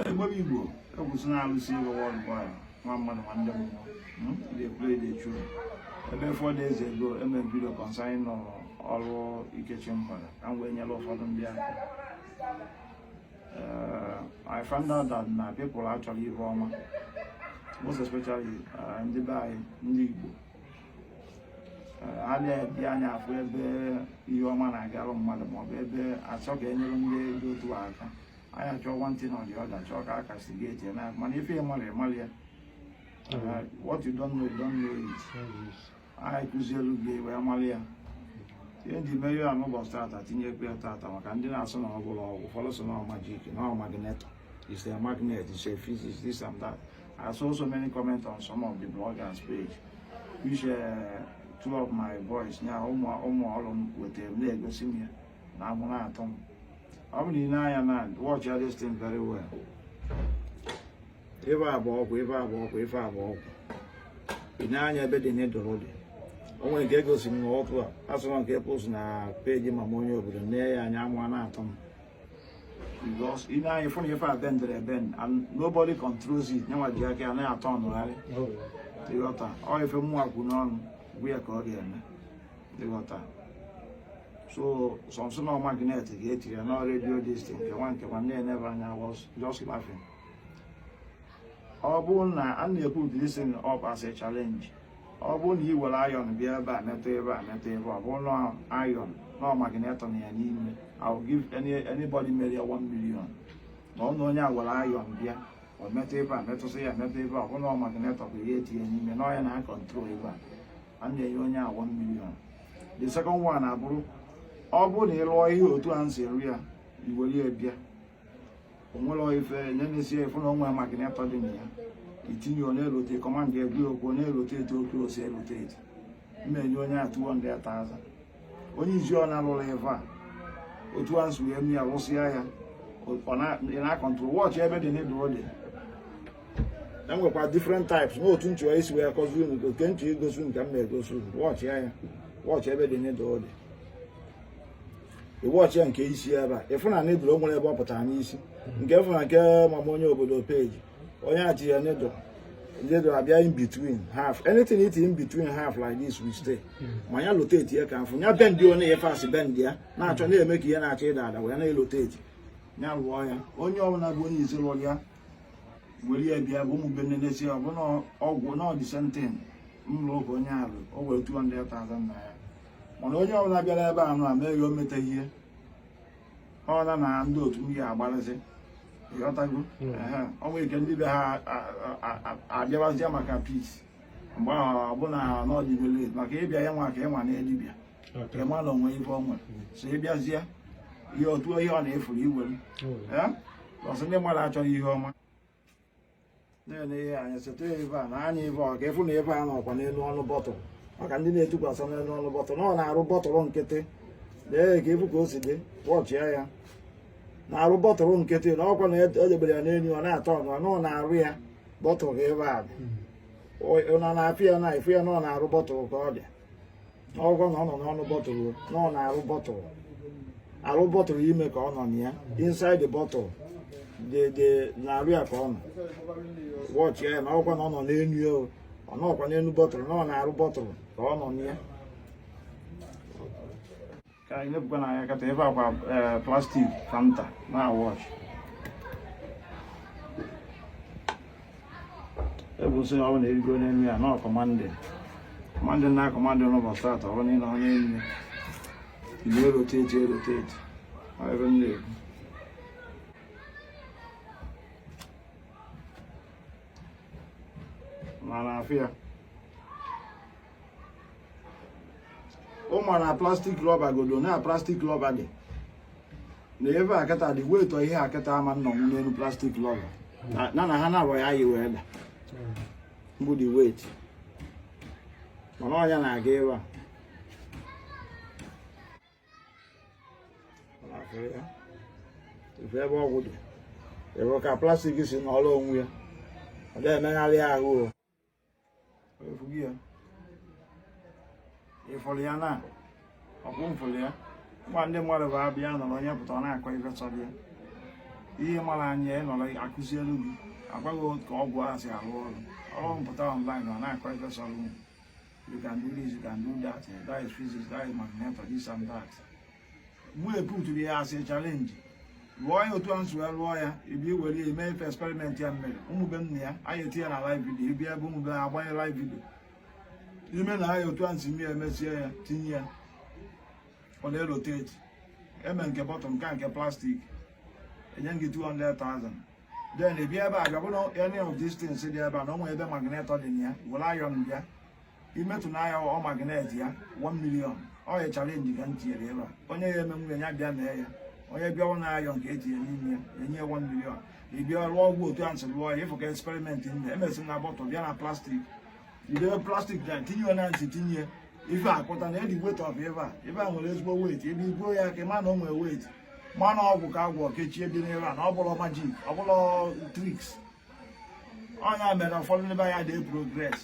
Igbo Igbo ekwuzi na Alụsi Ego world boy nwa mmadụ nwa ndị mmụọ hmm? dey play dey churu ebe four days ago emere m video concerning ọrụ Ikechi Mgbada ka m wee nyere ụfọdụ ndị aka eh, I found out that na people achọrọ ihe ọma most especially eh, ndị be anyị ndị Igbo a na-eji anya afụ ebe ihe ọma na-agarụ mmadụ maọbụ ebe achọ ka enyere ndị dị otu aka anyị achọọ one thing or the other chọọ ka a castigate ya na mana ife ị marọ ị marọ ya what you don't know you don't know it anyị kụzielu gị wee malụ ya ihe ndị mere ya n'ụbọchị tata tinyekwa ya tata maka ndị na-asị na ọ bụrọ ọgwụ ụfọdụ sị na ọ magic na ọ magnet is a magnet is a physics this and that I saw so many comments on some of the bloggers page which uh, two of my boys nya ụmụ ụmụ ọrụ m wetara m na-egosi m ya na amụ na-atọ m ọ bụ na i nee anya na watch all this thing very well ife a bụ ọgwụ ife a bụ ọgwụ ife a bụ ọgwụ i nee anya ebe the needle dị o nwere nke egosi m otu a a sị na ọ nke post na page mama onye obodo nee ya anya amụ na-atọ m because i nee anya ị fụ na ife a bendiri ebend and nobody controls it nyanwa ji aka ya na-atọnụgharị ịghọta ọ ife mmụọ kwu n'ọnụ bụ ya ka ọ ga-eme ịghọta so some sị na ọ magnet ga-etinye ya na radio this thing nke nwa nke nwa na-enebe anya I was just laughing ọ bụrụ na a na-ekwu this thing ọ bụ as a challenge ọ bụrụ na i were iron bịa ebe a metụ ife a metụ ife a ọ bụrụ na iron na ọ magnet nọ ya n'ime I will give any anybody mere ya 1 million ma ọ na onye were iron bịa ọ metụ ife a metụsị ya metụ ife a ọ bụrụ na ọ magnet bụ ihe e tinye n'ime na ọ ya na-acontrol ife a a na-enye onye a 1 million the second one abụrụ ọ bụrụ na ị lụọ ihe otu a m si rụ ya i were ya bịa onwere ife nenesie fụ na o nwe magnet dị na ya itinye ọ na-erotate command ya kwuo okwu ọ na-erotate ọ kwụsị irotate m enye onye a 200,000 onye sị ọ na-alụlị ife a otu a m si wee mee ya rụsịa ya ị na-acontrol watch ebe the needle dị e nwekwa different types n'otu m chọrọ isi wee kụzi unu ọ ka m chọ igosi unu ka m na-egosi unu watch ya ya watch ebe the needle dị ị watch ya nke isi ebe a ị fụ na needle o nwere ebe ọ pụtara n'isi nke fụ na nke mama onye obodo page onye a tị ya needle needle abịa in between half anything i tinye between half like this will stay ma ya rotate ya ka m fụ ya bend ọnụ ya first bend ya na-achọ na-eme ka ihe na-achọ ịda ada wee na-erotate ya rụọ ya onye ọbụla bụ onye isi lụrụ ya were ya bịa ọ bụ m bịa nenesie ọ bụ na ọgwụ na ọ the same thing m lụrụ ka onye a lụ o were 200,000 naira mana onye ọbụla bịara ebe a nụ a meghị o meta ihe ọ laa na ndị otu ya agbalịsị ịghọtago ọ nwere ike ndị be ha abịawazie maka peace mgbe ahụ ọbụna n'ọdịbele maka ịbịa ya nwa ka ị nwanee dibịa ka ị ma na o nwe ife ọnwa so ịbịazie ihe otu ihe ọbụna ị fụrụ i were ọsọ ndị mmadụ achọghị ihe ọma na-ele ihe anya seta ebe a na anya ebe ị ga-afụ na ife a nọkwa n'elu ọnụ bottle maka ndị na-etukwasị n'elu ọnụ bottle na ọ n'arụ bottle nkịtị lee ka ị fụ ka o si dị watchịa ya n'arụ bottle nkịtị na ọkwa na edebere ya n'elu ọ na-aturn na ọ n'arụ ya bottle ka ife a dị ọ na-afụ ya na ị fụ ya na ọ n'arụ bottle ka ọ dị ọ wụkwa na ọ nọ n'ọnụ bottle na ọ n'arụ bottle arụ bottle ime ka ọ nọ nụa inside the bottle dị n'arụ ya ka ọ nọ watch ya na ọ wụkwa na ọ nọ n'enu ya o. ọ nọkwa n'enu bottle na ọ n'arụ bottle ka ọ nọ nụa ka anyị na-ebukwa na anya kịta ebe akwa eh, plastic Fanta na-awatch ebu nsị na ọ bụla erigo n'elu ya na-acommand command na-acommand n'ụbọchị atọ ọ bụla ị nọ n'elu ya ị na-erotate erotate ọ ife m na-ekwu ma ị na-afụ ya ị ma na plastic rubber godu na plastic rubber dị na ebe a kịta dị weight ihe a kịta ama nọ n'elu plastic rubber na na ha na-abụ ya yi wee daa mbụ dị weight mana anya na-aga ebe a ị fụ ebe ọgwụ dị ị fụ ka plastic si nọrọ onwe ya ọ dị emegharị ahụ ị fụgo ya ị fụrụ ya na ọ bụ m fụrụ ya nwa ndị mmadụ bụ abịa nọrọ onye pụta ọ na-akọ ife sọrọ ya ihe mara anya ya nọrọ a kụzielu gị a gwa gị ka ọgwụ a si arụ ọrụ ọ pụta online ọ na-akọ ife sọrọ you can do this you can do that that is physics that is magnetic this and that mụ eputụrụ ya as a challenge lụọ ya otu anyị si lụọ ya ị bịa were ya mee ife experiment ya mere ụmụbe nna ya anyị etinye na live video ị bịa ebe ụmụbe ha agbanye live video i mee ya otu anyị si mere emesie ya tinye ya ọ na-erotate e mee nke bottle nke nke plastic enye gị 200,000 then ị bịa ebe a bịa buru any of these things dị ebe a na o nwere ebe magnet dị na ya were iron bịa imetụ n'ahịa ọ magnet ya 1 million ọ ya chalenji ka m tinyere ebe a onye ya emenwu ya bịa mee ya onye bịa ọ na ayọn ka etinye n'ime ya enye ya 1 million ị bịa rụọ ọgwụ otu a m si rụọ ya ịfụ ka eksperimenti m emesi na bọtụl bịa na plastik idebe plastik na tinye ya na ntị tinye ife akpụta na edi wet of ebe a ebe a nwere ezigbo wet ebe ibuo ya ị ga-ama na o nwere wet mana ọgwụ ka agwọ kechie dị n'ebe a na ọ bụrọ majik ọ bụrọ triks ọ ya mere ụfọdụ ndị be anyị adị progres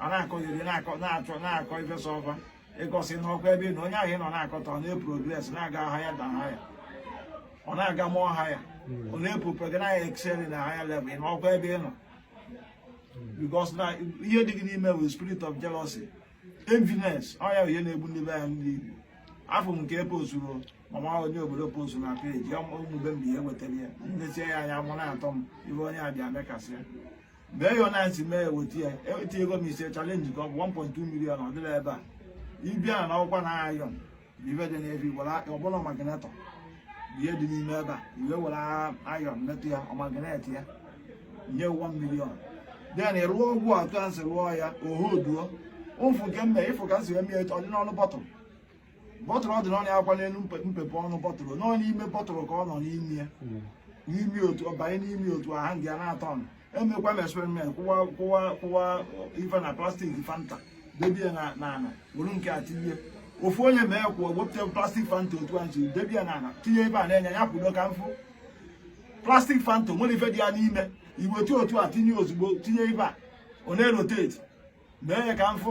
a na-akọgide na-akọ na-achọ na-akọ ifesa ọfa because ị nọkwa ebe ị nọ onye ahụ ị nọ na-akọta ọ na-eprogres na-aga higher and higher ọ na-aga more higher hmm. ọ na-epupe gị na excel na higher level ị nọkwa ebe ị nọ hmm. because na ihe dị gị n'ime bụ spirit of jealousy enviness ọ ya ihe na-egbu ndị be anyị ndị Igbo afụ m nke ebe ozuru mama onye obodo post na peji ụmụbe mgbe ihe wetara ya nnechi ya anya mụ na-atọ m ibe onye a bịa mekasị ya mee ya na ntị mee eweta ya eweta ego m ise chalenji ka ọ bụ 1.2 million ọ dịla ebe a ị bịa na ọkwa na ayọn ibe dị n'ebe were ọbụla magnetọ ihe dị n'ime ebe a i were ayọn metụ ya ọ magnet ya nye 1 million den ị rụọ ọgwụ otu a m si rụọ ya ohoduo ụfụ nke mbe ịfụ ka m si eme ya ọ dị n'ọnụ bọtụl bọtụl ọ dị n'ọnụ akwa n'elu mpepe ọnụ bọtụl nọ n'ime bọtụl ka ọ nọ n'ime ya hmm. n'ime otu banye n'ime otu aha nga na-atọ ọnụ emekwa m experiment kwụwa kwụwa kwụwa ife na plastik fanta debe ya n'ala were nke a tinye ofu onye mekwuo wepụta plastik fanta otu a nji debe ya n'ala tinye ebe a na-enye ya kwudo ka m fụ plastik fanta nwere ife dị ya n'ime iwetu otu a tinye ozugbo tinye ebe a ọ na-eroteti mee ya ka m fụ